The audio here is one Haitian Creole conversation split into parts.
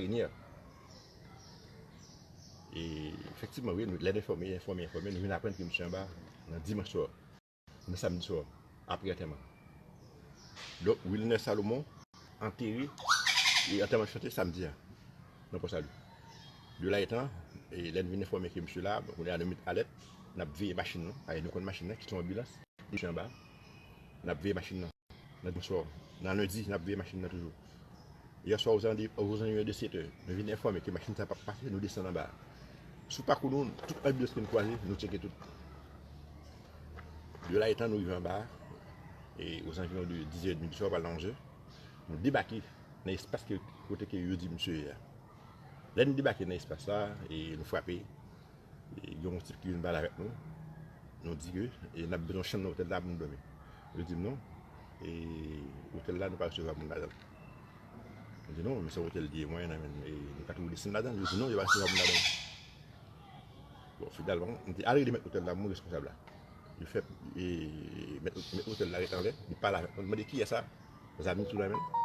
Renier e efektivman wi lè nou enfòme enfòme enfòme nou vin aprann ke misye anba nan dimanch swa nan samdi swa apre antèman donk Wilner Salomon antere e antèman misye te samdi a nan Pò Salu de la etan e lè nou vin enfòme ke misye la bon kounye a nou met alèt nap veye machin nou paske nou konn machin nan ki se yon anbilans misye anba nap veye machin nan nan dimanch swa nan lendi nap veye machin nan toujou. Yèswa ozanviyon de 7 è, nou vin enfòme ke machin sa pap pase, nou desann anba. Sou pakou nou, tout anbiyans ke nou kwaze, nou tcheke tout. Yo la etan nou rive anba, e ozanviyon de 10 è edmi di swa pral nan 11 è, nou debake nan espas kote ke yo di misye ye a. Lè nou debake nan espas sa, e nou frape, Gen yon tip ki vin pale avèk nou, nou di ke e nap bezwen yon chanm nan otèl la pou nou dòmi. Yo di non, e otèl la nou pa resevwa moun ladan l. Nou di non, men se otèl li ye, mwen nan e nou ka toujou desann ladan l. Yo di non, yo pa resevwa moun ladan l. Bon, finalman, nou di al rele mèt otèl la, moun responsab la. Yo fè e mèt otèl la ret anlè, li pale avèk nou, li mande kiyès sa? Zam li toujou nan men l.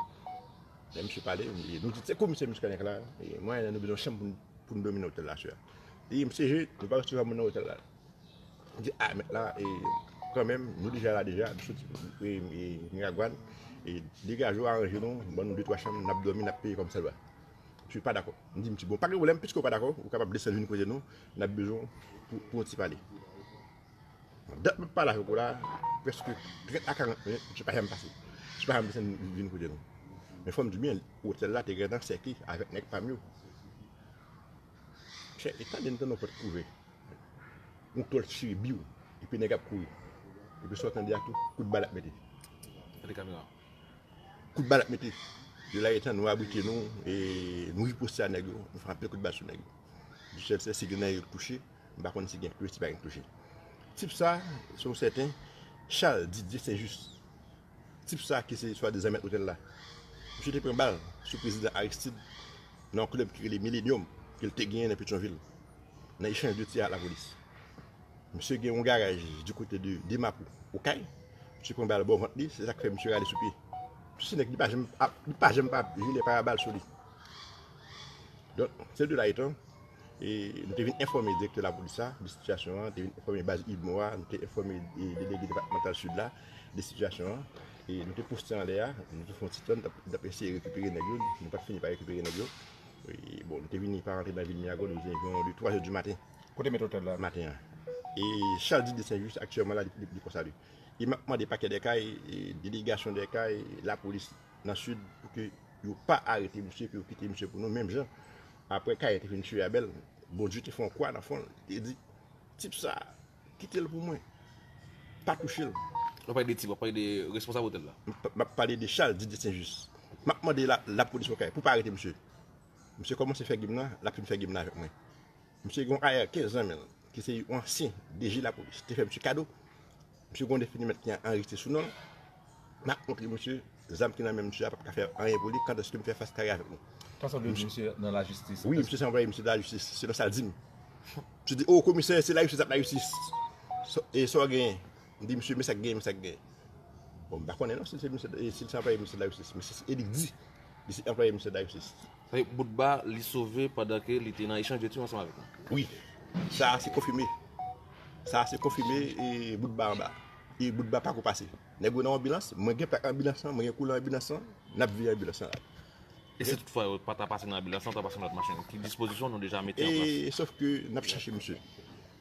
Lè misye pale, nou di se komisè Muscadin k la, e mwen nan nou bezwen yon chanm pou nou dòmi nan otèl la sè a. E msye je, yo pa resevwa moun nan otèl la. M di, a, mèt la, e, kan menm, nou deja la deja, nou soti, e, e, Miragwàn, e, degaje w aranje nou, ban nou de twa chanm, n ap dòmi, n ap peye kòmsadwa. Msye pa dakò. M di msye, bon, pa gen pwoblèm, piske w pa dakò, ou kapab desann vin kote nou, n ap bezwen w pou, pou yon ti pale. Bon, dat m ap pale avèk ou la, prèske trèt a karant minit, msye pa janm pase. Msye pa janm desann vin kote nou. Men fò m di w byen, otèl la te gentan sèkle avèk nèg pa m yo. Chè e tande m tande yon pòt k ouvè yon klòch chire biw epi nèg ap kouri epi sa w tande a tou kout bal ap mete gade kamera kout bal ap mete yo lage tan nou abrite nou e nou riposte a nèg yo nou fè anpil kout bal sou nèg yo di sèl se si gen nan yo k touche m pa konn si gen k touche si pa gen k touche tip sa se yon sèten Charles Didier Saint Juste Tip sa ki se swadizan mèt otèl la, misye te pran bal sou prezidan Aristide nan yon klèb ki rele Millenium ke l te genyen nan Petyonvil nan echanj de tir ak lapolis. Misye gen yon garaj di kote de Demapou, Okay, misye pran bal bò vant li, se sa k fè misye rale sou pye. Misye se nèg li pa janm ap, li pa janm pa ap jile pa bal sou li. Donk, se de la etan, e nou te vin enfòme direktè lapolis la de sitiyasyon an, te vin enfòme baz Idmo a, nou te enfòme delege depatmantal Sid la, de sitiyasyon an e nou te poste anlè a, nou te fè yon ti tan nou tap eseye rekipere nèg yo, nou pat fini pa rekipere nèg yo e bon nou te vini pa rantre nan vil myago nou vini anviwon de 3 è di maten. Kote mèt otèl la? Maten an e chal di de sen jis aktyèman la li poko sa li e map mande pakè dè kay e delegasyon dè kay lapolis nan sid pou ke yo pa arete misye pou yo kite misye pou nou menm jan aprè kay te fin tiye abèl bondye te fè yon kwa nan fon li te di tip sa. Kitel pou mwen. Pa touchel. Wap pale de tib wap pale de responsab hotel la. Map pale de chal Didier Saint Juste. Map mande la polis okay pou pa arete misye. Misye komanse fè gem nan lap fin fè gem nan avek mwen. Misye gen yon ayèkè zanmil ki se yon ansyen DG la polis te fè misye kado. Misye gen yon defini met ki anrejiste sou nonl. M ap montre misye zam ki nan men misye a pap ka fè anyen pou li kandèske m fè fas kare avèk nou. Sa sanble di misye nan lajistis. Wi, misye se anplwaye misye nan lajistis, selon sa l di m. Misye di, O, komisè, se lajistis ap lajistis. E sa w genyen? M di misye, men sa k genyen, men sa k genyen. Bon, m pa konnen non si l se anplwaye misye nan lajistis, men se li k di. Li se anplwaye misye nan lajistis. Sa vle di Boutba li sove pandan ke li te nan echanj de tir ansanm avèk nou? Wi. Sa a se konfime. Sa a se konfime Boutba anba. e bout ba pako pase nèg yo nan anbilans mwen gen plak anbilans lan mwen gen koulan anbilans lan nap veye anbilans lan rale. E si tout fwa yo pata pase nan anbilans lan yo ta pase nan lòt machin ki dispozisyon nou deja mete an plas? E sof ke nap chache misye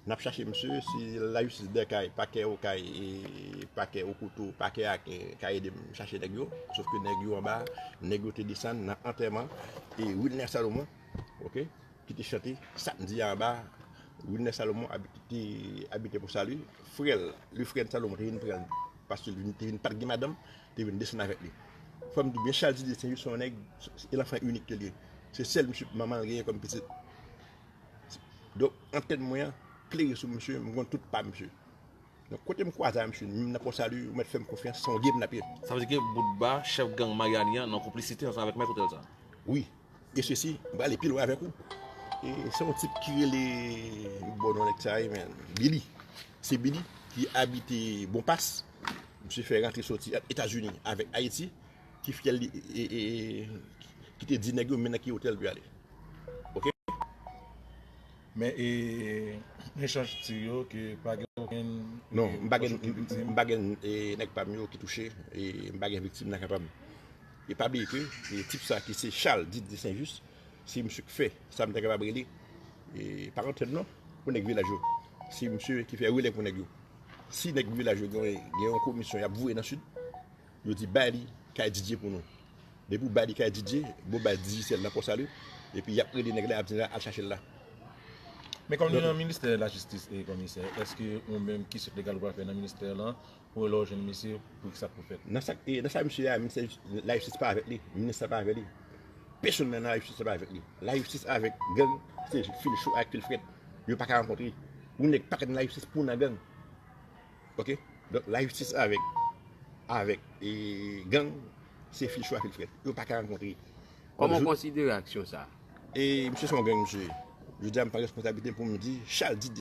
nap chache misye si la jistis dèkay pakè okay e pakè okoto pakè aken ka edem chache nèg yo sof ke nèg yo anba nèg yo te desann nan antèman e wilner salomon. ok ki te chante sa m di a anba Wilner Salomon ki abite pou Salu, frè l, le frè de Salomon te vin pran l paske li te vin pa t gen madanm, te vin desann avèk li. Fò m di byen Charles Didier St-Juste se yon nèg, se lanfan inik ke l ye. Se sèl misye manman l genyen kòm pitit. Donk antèn mwen an klere sou misye, m konn tout pa misye. Donk kote m kwaze avè misye, menm nan Pò Salu, ou mèt fè m konfyans, se yon gem n ap ye. Sa vle di ke Boutba, chèf gang Maryani an, nan konplisite ansanm avèk mèt otèl sa? Wi. E sesi m prale pi lwen avèk ou. E se yon tip ki rele bon non nèg sa ye men Billy. Se Billy ki abite bon pas. Misye fè rantre soti ant Etazini avèk Ayiti ki fyèl li e ki te di nèg yo men nan ki otèl pou y ale. Ok. Men e n echanj tir yo ke pa gen okenn. Non m pa gen nèg pa m yo ki touche e m pa gen viktim nan kan pa m. E pa bliye ke tip sa ki se Charles dit de Saint-Just, si misye k fè sa m ta kapab rele parantèn non pou nèg vilaj yo, se misye ki fè relè pou nèg yo. Si nèg vilaj yo gen yon komisyon y ap voye nan Sid, yo di bay li kay Didier pou nou. Depi ou bay li kay Didier, bon baz Digicel nan Pòsali, epi y ap rele nèg la, y ap di al chache l la. Men kòm li nan ministè lajistis e komisè, èske ou menm ki sèk legal ou pral fè nan ministè lan Ou lè w jwenn misye pou kisa pou fèt. Nan sak nan sa misye ye a minis la jistis pa avèk li minis la pa avèk li pèsonn nan la jistis pa avèk li la jistis avèk gang se fil cho ak fil frèt yo paka rankontre yon nèg paka nan la jistis pou nan gang ok donk la jistis avèk avèk gang se fil cho ak fil frèt yo paka rankontre kòman w konsidere aksyon sa e misye se yon gang misye ye jodi a m pran responsabilite m pou m di chal di.